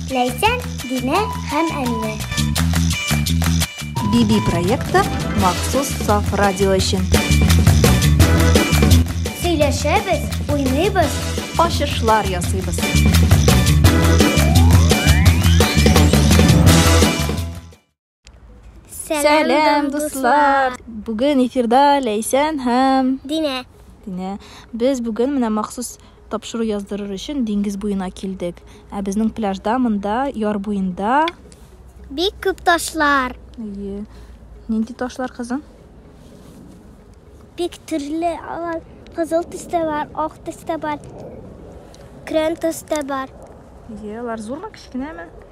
Ләйсән, Динә һәм Әминә. Биби проекты махсус саф радио өчен. Сөйләшәбез, уйныйбыз, ачышлар ясыйбыз. Сәлам, дуслар! Бүген эфирда Ләйсән һәм Динә. Динә. Без бүген менә махсус тапшыру яздырыр өчен диңгез буена килдек. Ә безнең пляжда монда яр буенда бик күп ташлар. Әйе. Нинди ташлар кызым? Бик төрле алар. Кызыл төстә бар, ак төстә бар. Крен төстә бар. Әйе, алар зурмы, кечкенәме?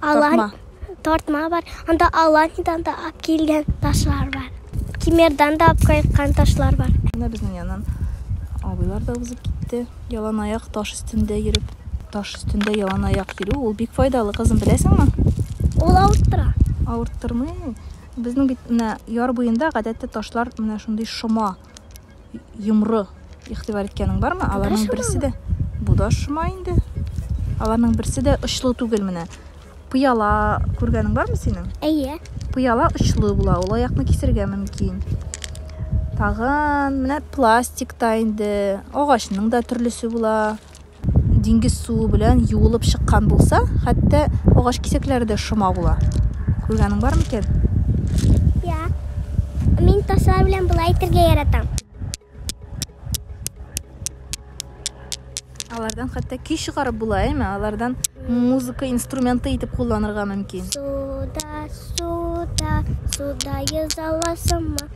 Алан, тартма бар. Анда Аланидан да алып килгән ташлар бар. Кимердан да алып кайткан ташлар бар. Менә безнең яннан абыйлар да узып китте. Ялан аяк таш өстендә йөреп. Таш өстендә ялан аяк йөрү ул бик файдалы, кызым, беләсеңме? Ул авырттыра. Авырттырмый. Безнең бит менә яр буенда гадәттә ташлар менә шундый шома. йомры игътибар иткәнең бармы? Аларның берсе дә бу да шома инде. Аларның берсе дә очлы түгел менә. Пыяла күргәнең бармы синең? Әйе. Пыяла очлы була, ул аякны кисергә мөмкин. Тагын менә пластик та инде, агачның да төрлесе була. диңгез суы белән юылып чыккан булса, хәтта агач кисәкләре дә шома була. Күргәнең бар микән? Я. Мин ташлар белән болай итәргә яратам. Алардан хәтта көй чыгарып була, әйме? Алардан музыка инструменты итеп кулланырга мөмкин. Суда, суда, суда язаласымы?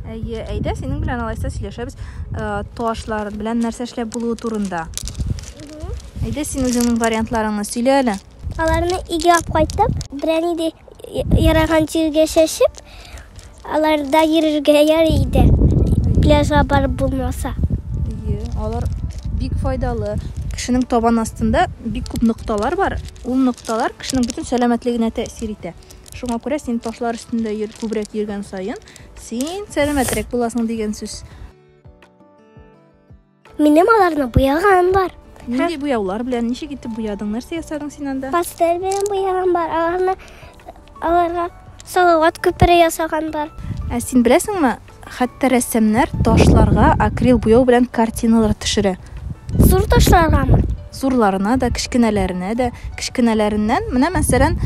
Әйе, әйдә, синең белән алайса сөйләшәбез э, ташлар белән нәрсә эшләп булуы турында. Әйдә, син үзеңнең вариантларыңны сөйлә әле. Аларны өйгә алып кайтып, берәр нидә яраган җиргә чәчеп, аларда йөрергә ярый иде. Пляжга барып булмаса. Әйе, алар бик файдалы. Кешенең табан астында бик күп нокталар бар. Ул нокталар кешенең бөтен сәламәтлегенә тәэсир итә. Шуңа күрә син ташлар өстендә йөр, күбрәк йөргән саен, син сәламәтрәк буласың дигән сүз. Минем аларны буяган бар. Нинди буяулар белән, ничек итеп буядың, нәрсә ясадың син анда? Пастель белән буяган бар, аларны аларга салават күпере ясаган бар. Ә син беләсеңме, Хәтта рәссамнар ташларга акрил буяу белән картиналар төшерә. Зур ташларгамы? Зурларына да, кечкенәләренә дә. Кечкенәләреннән, менә мәсәлән,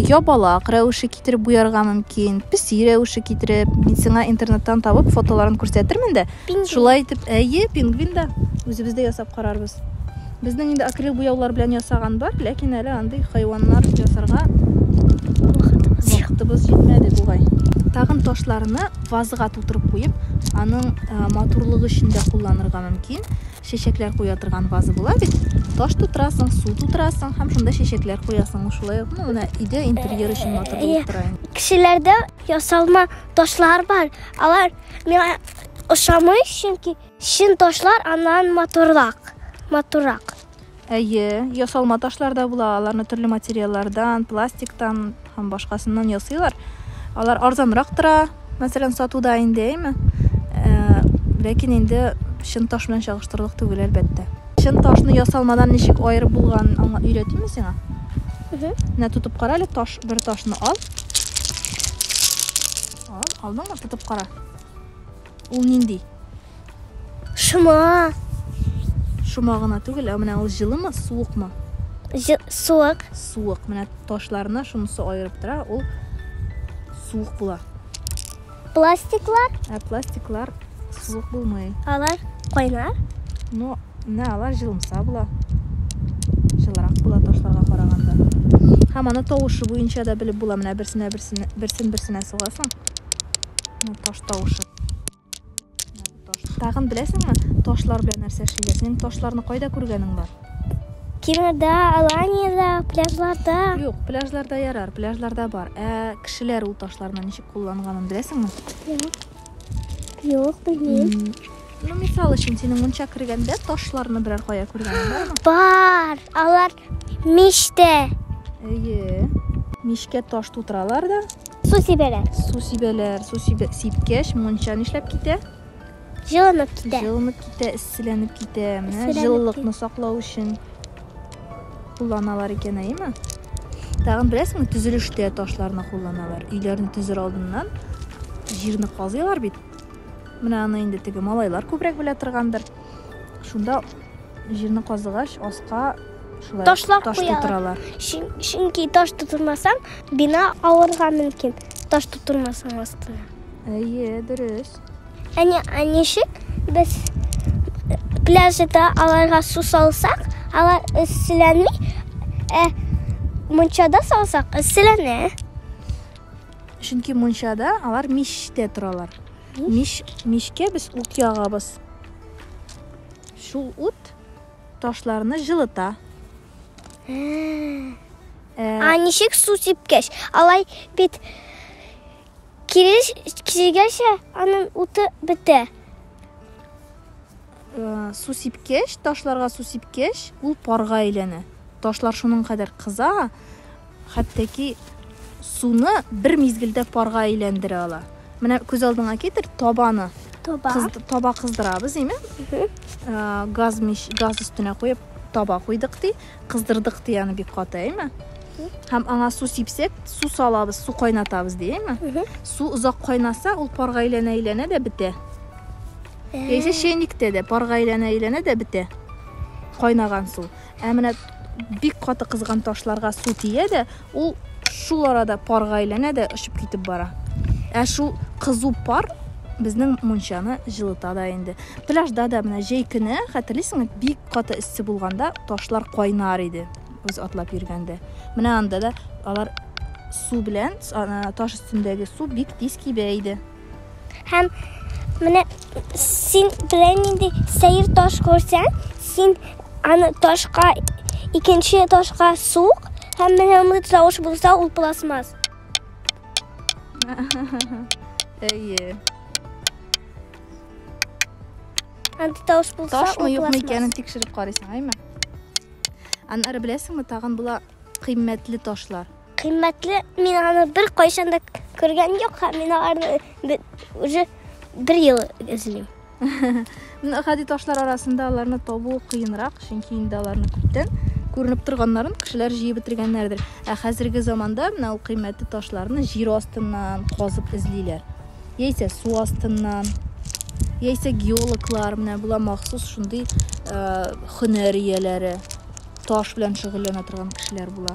ябалак рәвеше китереп буярга мөмкин, песи рәвеше китереп. Мин сиңа интернеттан табып фотоларын күрсәтермен дә. Пингвин. Шулай итеп, әйе, пингвин да. Үзебез дә ясап карарбыз. Безнең инде акрил буяулар белән ясаган бар, ләкин әле андый хайваннар ясарга вакытыбыз җитмәде бугай. Тагын ташларны вазга тутырып куеп, аның э, матурлыгы өчен дә кулланырга мөмкин. Чәчәкләр куя торган ваза була бит. Таш тутырасың, су тутырасың һәм шунда чәчәкләр куясың. Шулай ук, ну, менә өйдә интерьер өчен матур булып тора инде. Кешеләрдә ясалма ташлар бар. Алар миңа ошамый, чөнки Чын ташлар аннан матуррак. Матуррак. Әйе, ясалма ташлар да була, аларны төрле материаллардан, пластиктан һәм башкасыннан ясыйлар. Алар арзанрак тора, мәсәлән, сатуда инде, әйме? Э, ләкин инде чын таш белән чагыштырырлык түгел, әлбәттә. Чын ташны ясалмадан ничек аерып булган аңа өйрәтимме сиңа? Менә тотып кара әле, таш, бер ташны ал. Ал, алдыңмы? Тотып кара. Ул нинди? Шома. Шома гына түгел, ә менә ул җылымы, суыкмы? Суык. Суык. Менә ташларына шунысы аерып тора, ул суык була. Пластиклар? Ә пластиклар суык булмый. Алар кайнар? Ну, Менә алар җылымса була. Җылырак була ташларга караганда. Һәм аны тавышы буенча да белеп була. Менә берсенә берсенә берсен берсенә сугасың. Менә таш тавышы. Тагын беләсеңме, ташлар белән нәрсә эшлиләр? Синең ташларны кайда күргәнең бар? Кинода, Аланиядә, пляжларда. Юк, пляжларда ярар, пляжларда бар. Ә кешеләр ул ташларны ничек кулланганын беләсеңме? Юк. Юк, белмим. Ну, мисал өчен, синең мунча кергәндә ташларны берәр кая күргәнең бармы? Бар, алар мичтә. Әйе. Мичкә таш тутыралар да. Су сибәләр. Су сибәләр. Су сибә... сипкәч, мунча нишләп китә? Җылынып китә. Җылынып китә, эсселәнеп китә. Менә җылылыкны саклау өчен. Кулланалар икән, әйеме? Тагын беләсеңме, төзелештә ташларны кулланалар. Өйләрне төзер алдыннан җирне казыйлар бит. Менә аны инде теге малайлар күбрәк белә торгандыр. Шунда җирне казыгач, аска шулай Ташлап таш куялар. тутыралар. Чөн- Чөнки таш тутырмасаң, бина авырга мөмкин. Таш тутырмасаң астына. Әйе, дөрес. Әне, ә ничек без пляжда аларга су салсак, алар эсселәнми, ә мунчада салсак, эсселәнә. Чөнки мунчада алар мичтә торалар. Мич, мичкә без ут ягабыз. Шул ут ташларны җылыта. Ә, Ә ничек су сипкәч? Алай бит Килеш килгәнче аның уты бетә. Э, су сипкәч, ташларга су сипкәч, ул парга әйләнә. Ташлар шуның кадәр кыза, хәттәки суны бер мизгелдә парга әйләндерә ала. Менә күз алдыңа китер табаны. Таба. Кыз, таба кыздырабыз, әйме? Э, газ мич, газ өстенә куеп таба куйдык ди. Кыздырдык ди аны бик каты, әйме? Һәм аңа су сипсәк, су салабыз, су кайнатабыз ди, әйме? Су озак кайнаса, ул парга әйләнә-әйләнә дә бетә. Яисә чәйниктә дә парга әйләнә-әйләнә дә бетә. Кайнаган су. Ә менә бик каты кызган ташларга су тия дә, Ул шул арада парга әйләнә дә очып китеп бара. Ә шул кызу пар безнең мунчаны җылыта да инде. Пляжда да менә җәй көне, хәтерлисеңме, бик каты эссе булганда ташлар кайнар иде, без атлап йөргәндә. Менә анда да алар су белән, таш өстендәге су бик тиз кибә иде. Һәм менә син белән нинди сәер таш күрсәң, син аны ташка икенче ташка сук, һәм менә аны тавыш булса, ул пластмасс. Әйе. Аны тавыш булса, ул Ташмы юкмы пластмасс. икәнен тикшереп карыйсың, әйме? Аннары беләсеңме, тагын була кыйммәтле ташлар. Кыйммәтле, мин аны бер кайчан да күргән юк, һәм мин аларны уже бер ел эзлим. Гади ташлар арасында аларны табу кыенрак, чөнки инде аларны күптән күренеп торганнарын кешеләр җыеп бетергәннәрдер. Ә хәзерге заманда менә ул кыйммәтле ташларны җир астыннан казып эзлиләр. Яисә су астыннан, яисә геологлар менә була махсус шундый э, хөнәр ияләре, таш белән шөгыльләнә торган кешеләр була.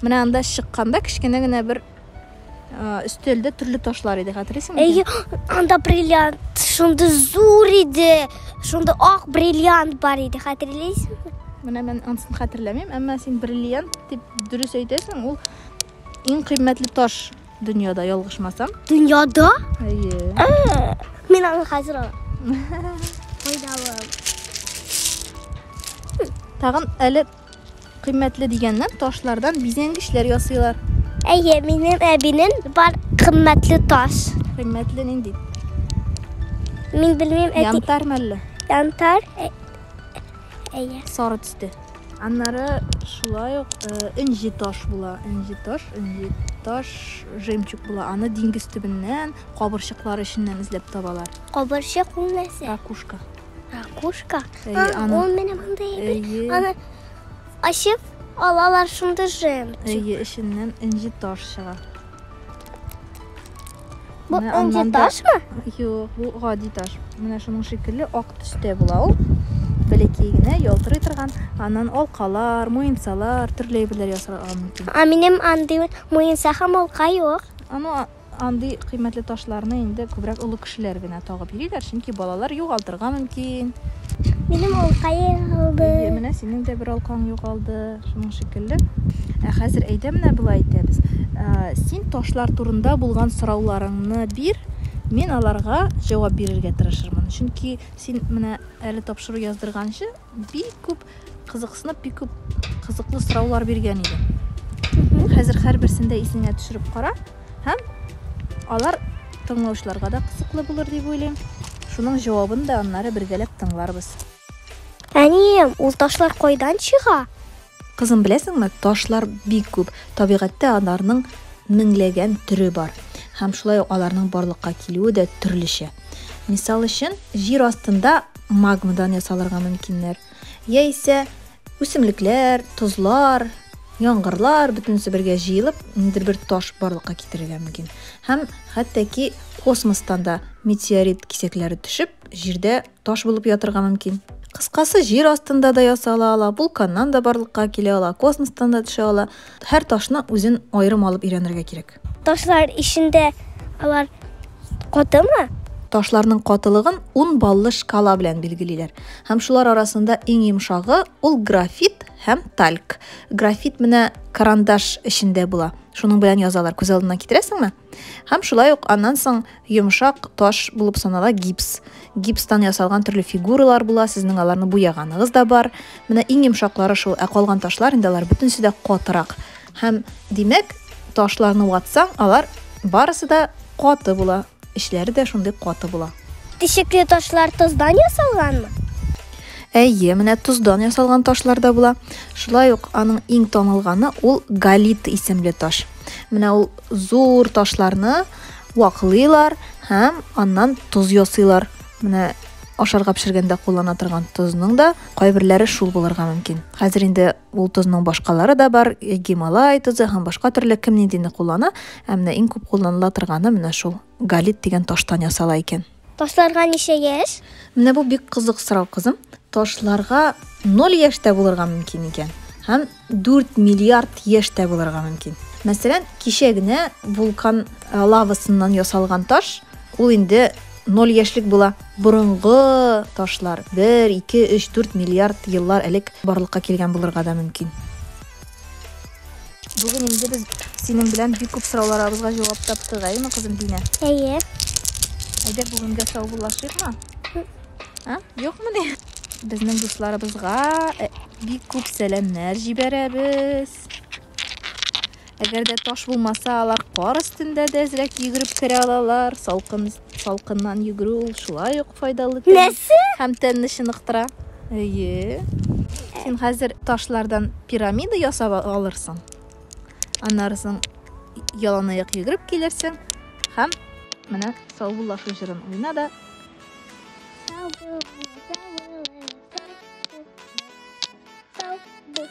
Менә анда чыкканда кечкенә генә бер өстәлдә төрле ташлар иде, хәтерлисеңме? Әйе, анда бриллиант, шунда зур иде, шунда ак бриллиант бар иде, хәтерлисеңме? Менә мен анысын хәтерләмим, әмма син бриллиант дип дөрес әйтәсең, ул иң кыйммәтле таш дөньяда, ялгышмасам. Дөньяда? Әйе. Ә, мин аны хәзер алам. Файдалы. Тагын әле Кыйммәтле дигәннән, ташлардан бизәнгечләр ясыйлар. Әйе, минем әбинем бар кыйммәтле таш. Кыйммәтле нинди? Мин белмим, әти. Янтар мәлле? Янтар. Ә... Әйе. Сары төстә. Аннары шулай ук э, энҗе таш була. Энҗе таш, энҗе таш жемчуг була. Аны диңгез төбеннән, кабырчыклар эченнән эзләп табалар. Кабырчык ул нәрсә? Ракушка. Ракушка? Әйе, а, аны. Ул менә монда әйе. Аны ачып алалар шунда җем. Әйе, эченнән энҗе таш чыга. Бу энҗе ташмы? Юк, бу гади таш. Менә шуның шикелле ак төстә була ул. Бәләкәй генә ялтырый торган, аннан алкалар, муенсалар, төрле әйберләр ясарга мөмкин. А минем андый муенса һәм алка юк. Аны Андый кыйммәтле ташларны инде күбрәк олы кешеләр генә тагып йөриләр, чөнки балалар югалтырга мөмкин. Минем алка югалды. Әйе, менә синең дә бер алкаң югалды, шуның шикелле. Ә хәзер әйдә менә болай итәбез. Син ташлар турында булган сорауларыңны бир, мин аларга җавап бирергә тырышырмын. Чөнки син менә әле тапшыру яздырганчы Бик күп кызыксынып, бик күп кызыклы сораулар биргән иде. Хәзер һәрберсендә исеңә төшереп кара һәм алар тыңлаучыларга да кызыклы булыр дип уйлыйм. Шуның җавабын да аннары бергәләп тыңларбыз. Әнием, ул ташлар кайдан чыга? Кызым, беләсеңме, ташлар бик күп. Табигатьтә аларның меңләгән төре бар. Һәм шулай ук аларның барлыкка килүе дә төрлечә. Мисал өчен, җир астында магмадан ясалырга мөмкиннәр. Яисә үсемлекләр, тозлар, яңгырлар бөтенесе бергә җыелып, ниндидер бер таш барлыкка китерергә мөмкин. Һәм хәтта ки космостан да метеорит кисәкләре төшеп, җирдә таш булып ятырга мөмкин. Кыскасы, җир астында да ясала ала, вулканнан да барлыкка килә ала, космостан да төшә ала. Һәр ташны үзен аерым алып өйрәнергә кирәк. Ташлар эчендә алар катымы? Ташларның катылыгын 10 баллы шкала белән билгелиләр. Һәм шулар арасында иң йомшагы ул графит һәм тальк. Графит менә карандаш эчендә була. Шуның белән язалар. Күз алдына китерәсеңме? Һәм шулай ук аннан соң йомшак таш булып санала гипс. Гипстан ясалган төрле фигуралар була, сезнең аларны буяганыгыз да бар. Менә иң йомшаклары шул, ә калган ташлар инде алар бөтенесе дә катырак. Һәм димәк, ташларны ватсаң, алар барысы да каты була. Эчләре дә шундый каты була. Тишекле ташлар тоздан ясалганмы? Әйе, менә тоздан ясалган ташлар да була. Шулай ук аның иң танылганы ул галит исемле таш. Менә ул зур ташларны ваклыйлар һәм аннан тоз ясыйлар. Менә ашарга пешергәндә куллана торган тозның да кайберләре шул булырга мөмкин. Хәзер инде ул тозның башкалары да бар, Гималай тозы һәм башка төрле кем ниндине куллана, ә менә иң күп кулланыла торганы менә шул галит дигән таштан ясала икән. Ташларга ничә яшь? Менә бу бик кызык сорау, кызым. Ташларга 0 яшьтә булырга мөмкин икән һәм 4 миллиард яшьтә булырга мөмкин. Мәсәлән, кичә генә вулкан э, лавасыннан ясалган таш, ул инде 0 яшьлек була. Борынгы ташлар 1, 2, 3, 4 миллиард еллар элек барлыкка килгән булырга да мөмкин. Бүген инде без синең белән бик күп сорауларыбызга җавап таптык, әйеме, кызым Динә? Әйе. Әйдә бүгенгә саубуллашыйкмы? А? Юкмы ни? Безнең дусларыбызга э, бик күп сәламнәр җибәрәбез. Әгәр дә таш булмаса, алар кар өстендә дә әзрәк йөгереп керә алалар, салкын Салкыннан йөгерү ул шулай ук файдалы тән Нәрсә? һәм тәнне чыныктыра. Әйе. Син хәзер ташлардан пирамида ясап а- алырсың. Аннары соң яланаяк йөгереп килерсең һәм менә саубуллашу җырын уйна да Сау булыгыз, сау булыгыз, сау булыгыз, сау бу-